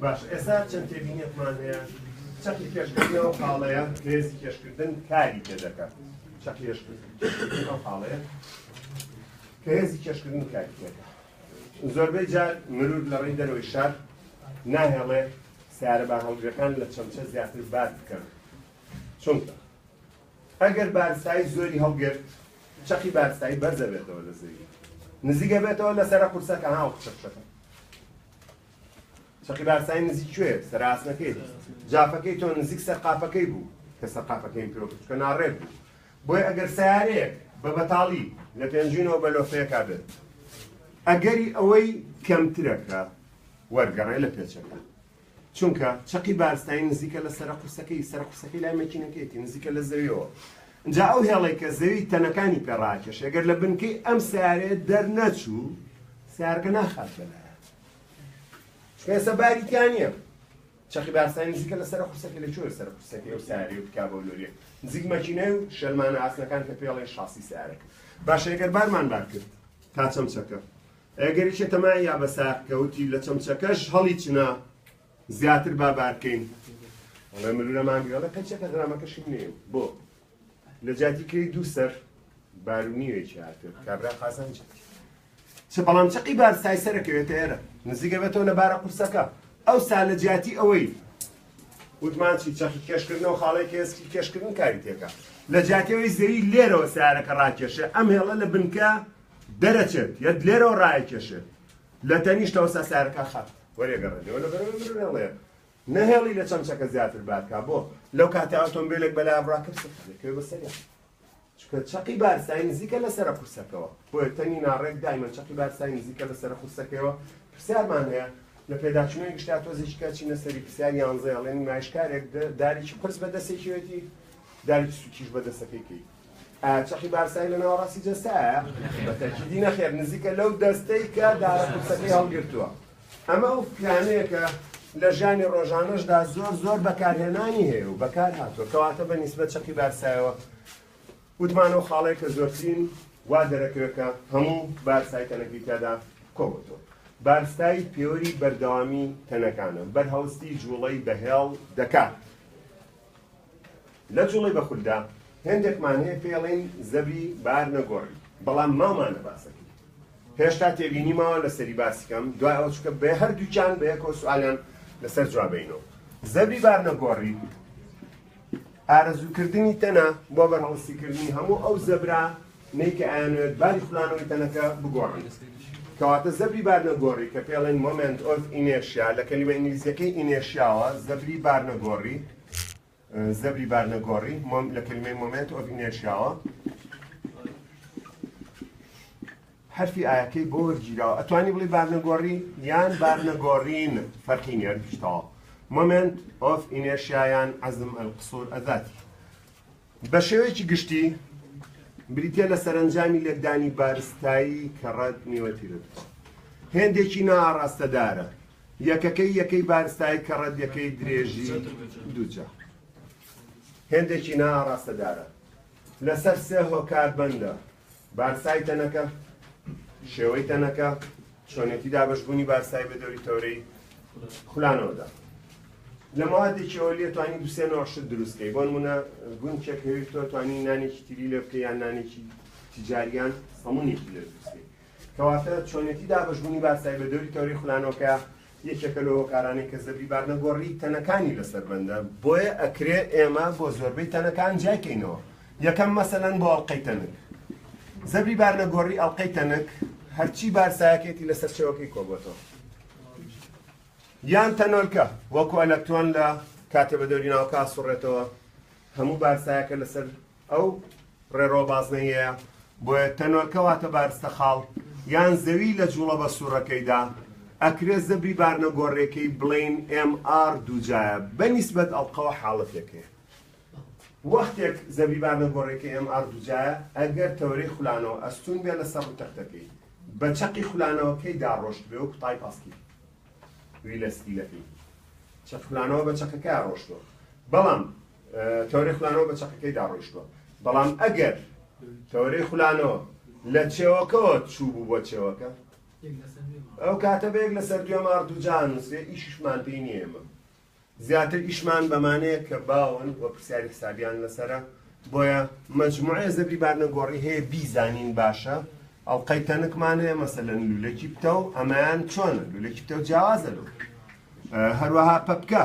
باشە ئێستا چەند تێبینیەکمان هەیە چەقی کێشکردن ئەو خاڵەیە هێزی کێشکردن کاری پێ دەکات چەق کێشکردن ئەو خاڵەیە کە هێزی کێشکردن کاری پێ دەکات زۆربەی جار مرور لە ڕێی دەرەوەی شار ناهێڵێ سیارە بە هەڵگرەکان لە چەمچە زیاتر بار بکەن چونکە ئەگەر بارستایی زۆری هەڵگرت چەقی بارستایی بەرز ئەبێتەوە لە زەوی نزیک ئەبێتەوە لە سەرە قورسەکە ها وەکو چەق چەقە چەقی بارستایی نزیک کوێ سەر ئاسنەکەی جافەکەی تۆ نزیک سەر قاپەکەی بوو کە سەر قاپەکەیم پێوە بچکە ناڕێک بوو بۆی ئەگەر سیارەیەک بە بەتاڵی لە پێنجوینەوە بە لۆفەیەکا بێت ئەگەری ئەوەی کەمترەکە وەرگەڕێ لە پێچەکە چونکە چەقی بارستایی نزیکە لە سەرە قورسەکەی، سەرە قورسەکەی لای مەکینەکەیەتی، نزیکە لە زەویەوە، ئینجا ئەو هێڵەی کە زەوی تەنەکانی پێ ڕاکێشێ، گەر لە بنکەی ئەم سەیارەیە دەرنەچوو، سەیارەکە ناخات بە لایان، چونکە ئێستا باری تیا نییە. چەقی بارستایی نزیکە لە سەرە قورسەکەی، لە کوێ سەرە قورسەکەی ئەو سەیارەی و پیکابە و لۆرییە؟ نزیک مەکینەی و شەلمانە ئاسنەکان کە پێڵێن شاسی سەیارەکە. باشە ئەگەر بارمان بار کرد تا چەم چەکە، گەریکە تەماع یا بە ساق کەوتی لە چەمچەکەش هەڵی چنە زیاتر با بار کەین ئەڵێ ملولە مانگرەڵە پەنچەکە غرامەکەشم نێ بۆ لە جاتی کرێی دوو سەر بارونیوێکی هاتێ کابرا قازانج چ بەڵام چقی بار سای سەرەکەوێتە ئێرە نزیکە بێتەوە لە بارە قورسەکە ئەو سا لە جیاتی ئەوەی وتمان چی چەخی کێشکردن و خاڵی کێسکی کێشکردن کاری تێکە لە جاتەوەی زەوی لێرەوە سارەکە ڕاکێشە ئەم هێڵە لە بنکە دەرەچێت یەت لێرەوە ڕایەکێشێت لە تەنیشت ئەوسا سارەکە خەت وەرێگەڕێنەوە لە بەرەوەی مرۆ نەڵێ نەهێڵی لە چەمچەکە زیاتر بارکا بۆ لەو کاتە ئۆتۆمبیلێک بەلا بڕاکرد سەکەوێ بەسەریا چکە چەقی بارسای نزیکە لەسەر قورسەکەەوە بۆیە تەنی ناڕێک دایمە چەقی بارسای نزیکە لەسەر قورسەکەەوە پرسیارمان هەیە لە پێداچوونەیە گشتا تۆزیشکە چینە سەری پرسیار یانزەیەڵێن مایشکارێک داریی قرس بە دەستێکیەتی داری سوکیش بە دەستەکەیکەی ئایا چەقی بارسای لە ناوەڕاستی جەستەیە؟ بە تەکیدی نەخێر نزیکە لەو دەستەی کە دارە قورسەکەی هەڵگرتووە. ئەمە ئەو پیلانەیە کە لە ژیانی ڕۆژانەشدا زۆر زۆر بەکارهێنانی هەیە و بەکار هاتووە، کەواتە بە نیسبەت چەقی بارسایەوە وتمان ئەو خاڵەیە کە زۆرترین وا دەرەکەوێت کە هەموو بارسای تەنەکەی تیادا کۆبۆتەوە. بارسای پێوەری بەردەوامی تەنەکانە، بەرهەڵستی جووڵەی بەهێڵ دەکات. لە جوڵەی بە خولدا هێندێکمان هەیە پێڵێین زەبری بار نەگۆڕی بەڵام ماومانە باسەکەی هێشتا تێبینی ماوە لەسەری باسی کەم دوای ئەوە چکە بێ هەردووکیان بە یەکەوە سوالیان لەسەر جوابینەوە زەبری بار نەگۆڕی ئارەزووکردنی تەنە بۆ بەرهەڵستیکردنی هەموو ئەو زەبرا نیکە ئەیانوێت باری خولانەوەی تەنەکە بگۆڕن کەواتە زەبری بارنەگۆڕی کە پێڵێن مۆمنت ئۆف ئینێشیا لە کەلیمە ئینگلیزیەکەی ئینێشیاوە زەبری بارنەگۆڕی زەبری بارنەگۆڕی، مۆم، لە کەلیمەی Moment of Inertia وە. حەرفی ئایەکەی بۆ وەرگیراوە. ئەتوانی بڵی بارنەگۆڕی یان بارنەگۆڕین فەرقی نیە گشتەوە. Moment of Inertia یان عەزم القصور ئەزاتی. بە شێوەیەکی گشتی بریتە لە سەرنجامی لێکدانی بارستایی کە ڕەت نیوەتیرت. هێندێکی ناڕاستەدارە یەکەکەی یەکەی بارستایی کە ڕەدیەکەی درێژی دووجا هێندێکی نا ئاڕاستەدارە لەسەر سێ هۆکار بەندە، بارستایی تەنەکە، شێوەی تەنەکە، چۆنێتی دابەشبوونی بارستایی بە دەوری تەورەی خولانەوەدا. لە موادێکی ئەوە لێ توانی دوسێ نۆشت دروستکەی بۆن منە گونکێک هەوی تۆ توانی نانێکی تیری لێ بکە یان نانێکی تجاریان هەمونێکی لێ دروستکەی کەواتە چۆنێتی دابەشبوونی بارسای بە دەوری تەوری خولانەوەکە یەکێکە لەو هۆکارانەی کە زەبری بار لە گۆڕی تەنەکانی لەسەر بەندە، بۆیە ئەکرێ ئێمە بۆ زۆربەی تەنەکان جیای کەینەوە، یەکەم مەسەلەن بۆ ئەڵقەی تەنک زەبری بار لە گۆڕی ئەڵقەی تەنک هەرچی بارسایەکێتی لە سەرچەوەکەی کۆبۆتەوە یان تەنۆلکە وەکو ئەلەکترۆن لە کاتێ بە دەوری ناوکە ئاسوڕێتەوە هەموو بارسایەکە لەسەر ئەو ڕێڕەوە بازنەییەیە بۆیە تەنۆلکە واتە بارستە خاڵ یان زەوی لە جوڵەبە سوڕەکەیدا ئەکرێ زەبری بارنە گۆڕێکەی بڵێین ئێم ئاڕ دووجایە بە نیسبەت ئەڵقەوە حاڵەتێکەیە وەختێک زەبری بارنە گۆڕێکە ئێم ئاڕ دووجایە ئەگەر تەوەرەی خولانەوە ئەستون بێ لەسەر ڕوو تەختەکەی بە چەقی خولانەوەکەی داڕۆشت بێ و کوتای پاسکی ویلەسکیلەکەی چەقلانەوە بە چەقەکە ڕۆشتوە بەڵام تەوەرەی خولانەوە بە چەقەکەیدا ڕۆیشتووە، بەڵام ئەگەر تەوەرەی خولانەوە لە چێوەکەوە چووبوو بۆ چێوەکە، ئەو کاتە بە یەک لەسەر دوێ مار دووجا ئەنووسرێ، ئیشیشمان پێی نییە ئێمە. زیاتر ئیشمان بەمانەیە کە باون و پرسیاری حسابیان لەسەرە، بۆیە مەجموعەیە زەبری بارنەگۆڕی هەیە بیزانین باشە، ئەڵقەی تەنکمان هەیە مەسەلەن لوولەکی پتەو ئەمەیان چۆنە، لوولەکی پتەو جیاوازە لەو، هەروەها پەپکە.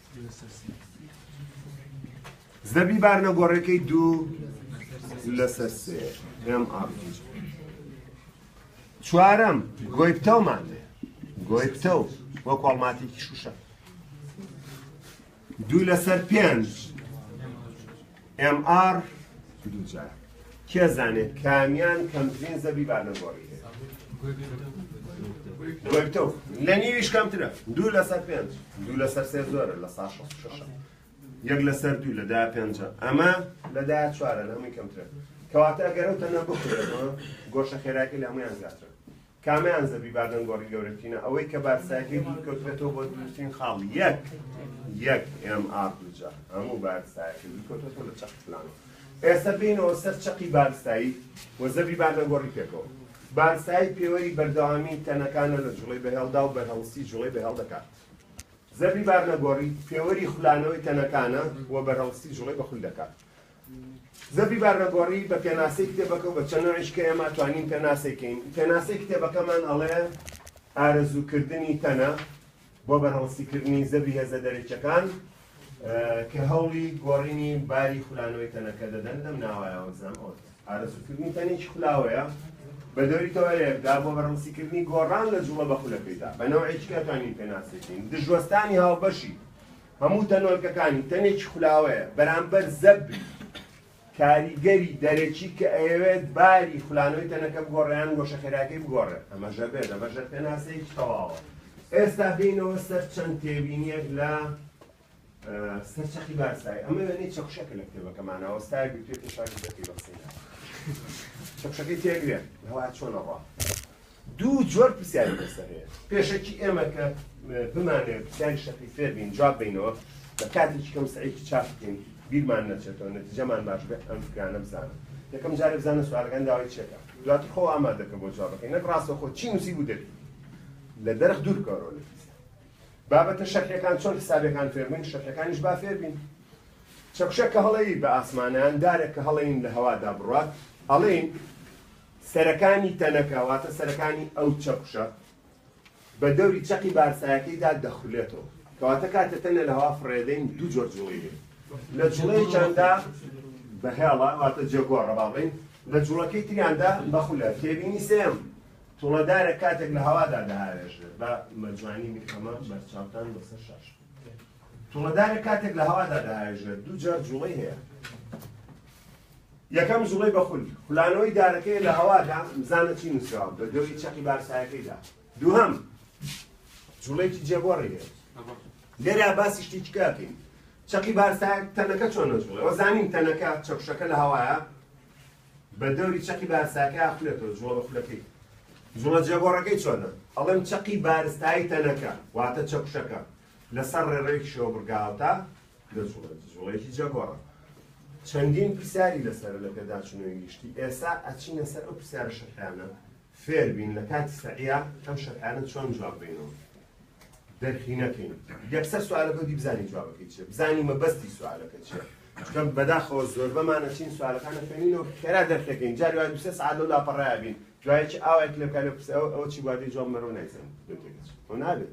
زەبری بارنە گۆڕەکەی دوو لەسەر سێ ئێم ئاڕ چوارەم گۆی پتەومان لێ گۆی پتە و وە کۆڵماتێکی شوشە دوو لەسەر پێنج MR دوو جار کێ زانێ کامیان کەمترین زەبی بارنەگۆڕی گۆیتەو لە نیویش کەمترە دوو لەسەر پێنج دوو لەسەر سێ زۆرە لە سا شەست شەشە یەک لەسەر دوو لەدا پێنجە ئەمە لەدا چوارە لە هەمووی کەمترە کەواتە ئەگەرەوتە نە بخورێتەوە گۆشە خێراکی لە هەمویان زیاترە کامیان زەبری بادن گۆڕی گەورەترینە ئەوەی کە بارسایەکەی دوور کەوتبێتەوە بۆ دروستترین خاڵ یەک یەک ئێم ئاڕ دووجا هەموو بارسایەکە دوور کەوتبێتەوە لە چەق فلانەوە ئێستا بینەوە سەر چەقی بارسایی و زەبری بادن گۆڕی پێکەوە بارسایی پێوەری بەردەوامی تەنەکانە لە جوڵەی بەهێڵدا و بەرهەڵستی جوڵەی بەهێڵ دەکات زەبری بارنەگۆڕی پێوەری خولانەوەی تەنەکانە و بەرهەڵستی جوڵەی بەخول دەکات زەبری بارنەگۆڕی بە پێناسەی کتێبەکە و بە چەند نۆعیش کە ئێمە توانین پێناسەی کەین، پێناسەی کتێبەکەمان ئەڵێ ئارەزووکردنی تەنە بۆ بەرهەڵستیکردنی زەبری هێزە دەرەکیەکان کە هەوڵی گۆڕینی باری خولانەوەی تەنەکە دەدەن لەم ناوایەوە بزانم ئەوە ئارەزووکردنی تەنێکی خولاوەیە بە دەوری تەوەرێکدا بۆ بەرهەڵستیکردنی گۆڕان لە جوڵە بە خولەکەیدا بە نەوەیچکە توانین پێناسەی کەین دژوەستانی هاوبەشی هەموو تەنۆلکەکانی تەنێکی خولاوەیە بەرامبەر زەبری کاریگەری دەرەکی کە ئەیەوێت باری خولانەوەی تەنەکە بگۆڕێ یان گۆشە خێراکەی بگۆڕێ ئەمە ژەبێت ئەمە ژەبێت پێناسەیەکی تەواوە ئێستا دێینەوە سەر چەند تێبینیەک لە سەرچەخی بارسای ئەمە وێنەی چەخشەکە لە کتێبەکەمانەوە ستای گوتێ پێشاوی دەکەی بەقسەی چەخشەکەی تێگرێ هەوا چۆنەڕە دوو جۆر پرسیاری لەسەر هەیە، پێشەکی ئێمە کە بمانەوێت پرسیاری شەقی فێر بین جواب بینەوە بە کاتێکی کەم سەعیکی چاپ بکەین بیرمان نەچێتەوە نەتیجەمان باش بێت ئەم فکرانە بزانە یەکەم جارێ بزانە سوالەکان داوای چێکە دواتر خۆ ئامادەکە بۆ جوابەکەی نەک ڕاستەخۆ چی نووسی بوو دەبی لە دەرخ دوور بکەوەرەوە لە بابەتە شەرحەکان چۆن حسابەکان فێربووین شەرحەکانیش با فێربین چەکشە کە هەڵەیی بە ئاسمانیان دارێک کە هەڵەین لە هەوادا بڕات هەڵین سەرەکانی تەنەکە واتە سەرەکانی ئەو چەکوشە بە دەوری چەقی بارسایەکەیدا دەخولێتەوە کەواتە کاتێ تەنە لە هەوا فڕێدەین دوو جۆر جوڵەی هەیە لە جوڵەیەکیاندا بە هێڵە واتە جێگۆڕە با بڵێین لە جوڵەکەی تریاندا بە خولە تێبینی سێم توڵەدارە کاتێک لە هەوادا دەهاوێژێت بە مەجوانی میکەمە بەرچاوتان لەسەر شاش توڵەدارە کاتێک لە هەوادا دەهاوێژێت دوو جار جوڵەی هەیە یەکەم جوڵەی بە خول، خولانەوەی دارەکەیە لە هەوادا، بزانە چی نووسراوە بە دەوری چەقی بارسایەکەیدا. دووهەم، جوڵەیەکی جێگۆڕی هەیە. لێرە باسی شتێکی تر ئەکەین. چەقی بارسایەک تەنەکە چۆن نەجوڵێ؟ ئەوە زانین تەنەکە، چەکوشەکە لە هەوایە، بە دەوری چەقی بارسایەکەی ئەخولێتەوە، جوڵە بە خولەکەی. جوڵە جێگۆڕەکەی چۆنە؟ ئەڵێم چەقی بارستایی تەنەکە، واتە چەکوشەکە، لەسەر ڕێڕەوێکی شێوەبڕگاوتا دەجوڵێت، جوڵەیەکی جەگۆڕە. چەندین پرسیاری لەسەرە لە پێداچوونەوەی گشتی. ئێستا ئەچینە سەر ئەو پرسیارە شەرحیانە، فێر بین لە کاتی سەعیە ئەم شەرحیانە چۆن جواب بەینەوە، دەرکی نەکەین. یەکسەر سوالەکە و دی بزانین جوابەکەی چییە، بزانین مەبەستی سوالەکە چییە. چونکە بەداخەوە زۆربەمان ئەچین سوالەکان ئەخوێنینەوە خێرا دەرک ئەکەین، جاری وایە دوو سێ سەعات لەو لاپەڕەیا بین، دوایەکی ئاوایەک لێ بکا لێ بپرسێ ئەوە چی بووە، ئەدی جواب مەرۆ نایزانین لەوێ تێگەچێت. خۆ نابێت.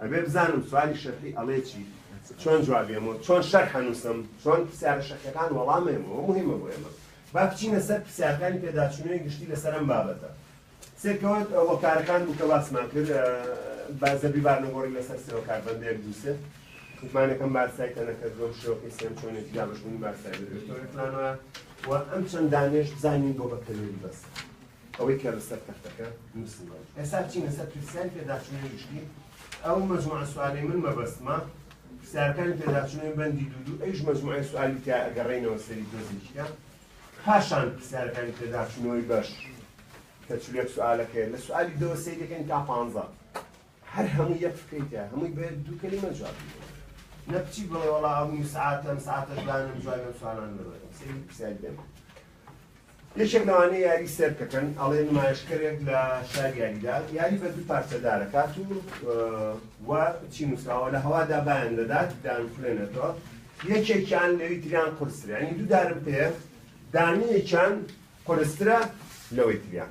ئەبێ بزانم سوالی شەرحی ئەڵێ چی چۆن جواب بێمەوە چۆن شەرح ئەنووسم چۆن پرسیارە شەرحیەکان وەڵام ئەیەمەوە موهیمە بۆ ئێمە با بچینە سەر پرسیارەکانی پێداچوونەوەی گشتی لەسەر ئەم بابەتە سێکەوت وەکارەکان بوو کە باسمان کرد با زەبی بارنەگۆڕی لەسەر سێوە کاربەندێک دووسێ متمانەکەم بارسای تەنەکەت بۆم شێوەکەی سێم چۆنێتی دابشبوونی بارسای بێتەوە پلانەوە و ئەم چەند دانێش بزانین بۆ بە کەلوری بەس ئەوەی کە لەسەر تەختەکە نووسیوە. ئێستا بچینە سەر پرسیاری پێداچوونەوەی گشتی. ئەو مەجموعە سوالەی من مەبەستمە پرسیارەکانی پێداچوونەوەی بەندی دوو دوو ئەیش مەجموعەی سوالی تیایە ئەگەڕێینەوە سەری تۆزێکیان پاشان پرسیارەکانی پێداچوونەوەی بەش کە چل و یەک سوالەکەیە لە سوالی دەوە سەیر دەکەین تا پانزە هەر هەمووی یەک فکرەی تیایە هەمووی بە یەک دوو کەلیمە جواب بدەین نە بچی بڵێ وەڵا ئەو نیو سەعاتە ئەم سەعاتەش دانەم جوابی ئەم سوالانە نەدەم سەیری پرسیاری دەم یەکێک لەوانەی یاری سێر کەکەن ئەڵێ نمایشکەرێک لە شار یاریدا یاری بە دوو پارچە دارەکات و و چی نووسراوە لە هەوادا بایان دەدات دان خولێنێتەوە یەکێکیان لەوی تریان قورسرانی دوو دارم پێ دانیەکیان قورسترە لەوەی تریان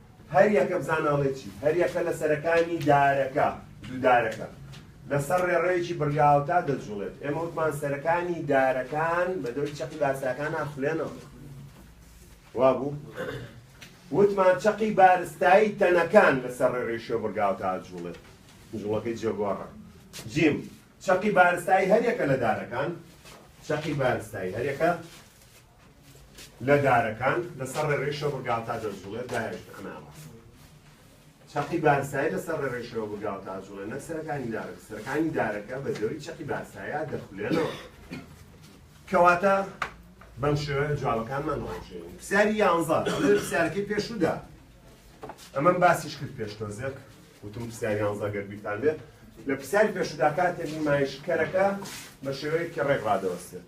هەر یەکە بزانە ئەڵێ چی. هەر یەکە لە سەرەکانی دارەکە، دوو دارەکە، لە سەر ڕێڕەوێکی بڕگاوتا دەجوڵێت. ئێمە وتمان سەرەکانی دارەکان بە دەوری چەقی بارستایەکان ناخولێنەوە. وا بوو؟ وتمان چەقی بارستایی تەنەکان لە سەر ڕێڕەوی شێو بڕگاوتا ئەجوڵێت. جوڵەکەی جێگۆڕە. جیم، چەقی بارستایی هەر یەکە لە دارەکان، چەقی بارستایی هەر یەکە، لە دارەکان لەسەر ڕێڕەوی شەوبرگاو تا جەنجوڵێ داهێشت ئەناڕا چەقی بارسایی لەسەر ڕێڕەوی شەوبرگاو تا جوڵێ نەک سەرەکانی دارەکە سەرەکانی دارەکە بە زێوی چەقی بارسایە دەخولێنەوە کەواتە بەم شێوە جوابەکانمان ڕۆژێن پرسیاری یانزە پرسیارەکەی پێشودا ئەمەم باسیش کرد پێشتۆ زێک وتم پرسیاری یانزە گەر بیرتان بێت لە پرسیاری پێشودا کاتێک نمایشکەرەکە بە شێوەیەکی ڕێک ڕادەوەستێت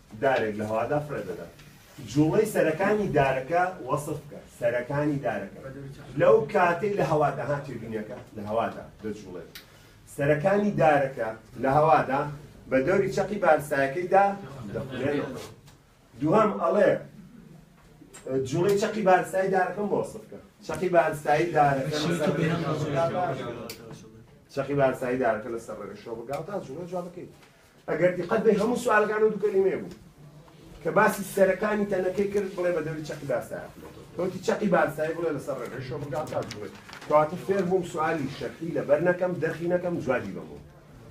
دارێک لە هەوادا فڕێ دەدات. جوڵەی سەرەکانی دارەکە وەسف بکە. سەرەکانی دارەکە لەو کاتەی لە هەوادا ها تێبینیەکە لە هەوادا دەجوڵێت. سەرەکانی دارەکە لە هەوادا بە دەوری چەقی بارستایەکەیدا دەخولێنەوە. دووهەم ئەڵێ جوڵەی چەقی بارستایی دارەکەم بۆ وەسف بکە. چەقی بارستایی دارەکە چەقی بارستایی دارەکە لەسەر ڕێگە شۆ بگاوتا جوڵە جواب بکەیت. ئەگەر دیقەت بەی هەموو سوالەکان و دوو کەلیمەیە بوو کە باسی سەرەکانی تەنەکەی کرد بڵێ بە دەوری چەقی باستایە کەوتی چەقی باستای بڵێ لەسەر ڕێگەی شۆبگا تا بڵێ کەواتە فێر بووم سوالی شەرحی لەبەر نەکەم دەرخی نەکەم جوابی بەمەوە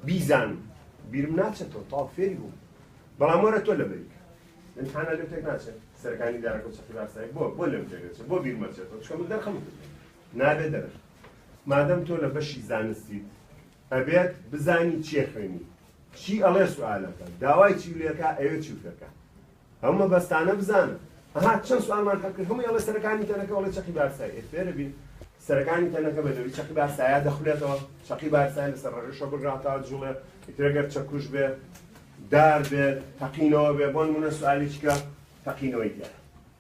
بیزان بیرم ناچێتەوە تا فێری بووم بەڵام وەرە تۆ لەبەری امتحانە لێ تێک ناچێت سەرەکانی دارەکە چەقی باستای بۆ بۆ لێم تێک دەچێت بۆ بیرم ئەچێتەوە چکە من دەرخەم کرد نابێ دەرخ مادەم تۆ لە بەشی زانستیت ئەبێت بزانی چیە خوێنی چی ئەڵێ سوالەکە داوای چی لێکا ئەوێ چی فێرکە ئەو مەبەستانە بزانە ئەها چەند سوالمان حەکرد هەمووی ئەڵێ سەرەکانی تەنەکە ئەڵێ چەقی بارسای ئێ فێرە بین سەرەکانی تەنەکە بە نەوی چەقی بارسایە دەخولێتەوە چەقی بارسای لەسەر ڕەگەشە بگراتە جوڵێ ئیترەگەر چەکوش بێ دار بێت تەقینەوە بێ بۆ نمونە سوالیچکە تەقینەوەی دیارە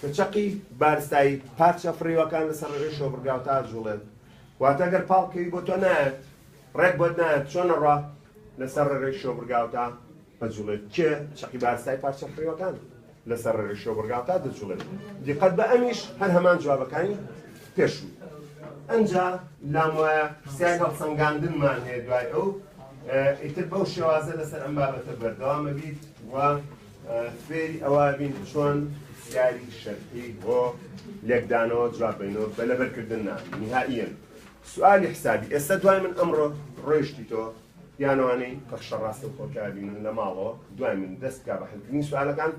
کە چەقی بارستایی پارچە فڕیوەکان لەسەر ڕێگەی شۆبڕگاو تا ئەجوڵێن واتە گەر پاڵ کەوی بۆ تۆ نایەت ڕێک بۆت نایەت چۆن ئەڕوا لەسەر ڕێگەی شۆبڕگاو تا ئەجوڵێت کێ چەقی بارستایی پارچە فڕیوەکان لەسەر ڕێگەی شۆبڕگاو تا دەجوڵێت دیقەت بە ئەمیش هەر هەمان جوابەکانی پێشوو ئەنجا لام وایە پرسیاری هەڵسەنگاندنمان هەیە دوای ئەو ئیتر بەو شێوازە لەسەر ئەم بابەتە بەردەوامە بیت و فێری ئەوە بین چۆن پرسیاری شەرحی بۆ لێکدانەوە جواب بینەوە بە لەبەرکردن نا نهائیەن سوالی حسابی ئێستا دوای من ئەمڕۆ ڕۆیشتی تۆ یانەوانەی بەخشە ڕاستە و خۆکابینن لە ماڵەوە دوای من دەستکا بە حلکردنی سوالەکان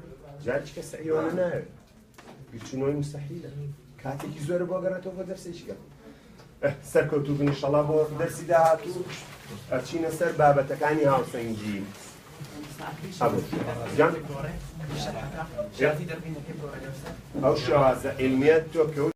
جاچکە سعیوانە ناوێت بیرچونەوەی مستحیلە کاتێکی زۆر بۆ گەڕێتەوە بۆ دەرسێکیگە سەرکەوتو بن شەڵا بۆ دەرسی داهاتوو ئەچینە سەر بابەتەکانی هاوسەنگی ئەو شێوازە علمیت تۆ کەوت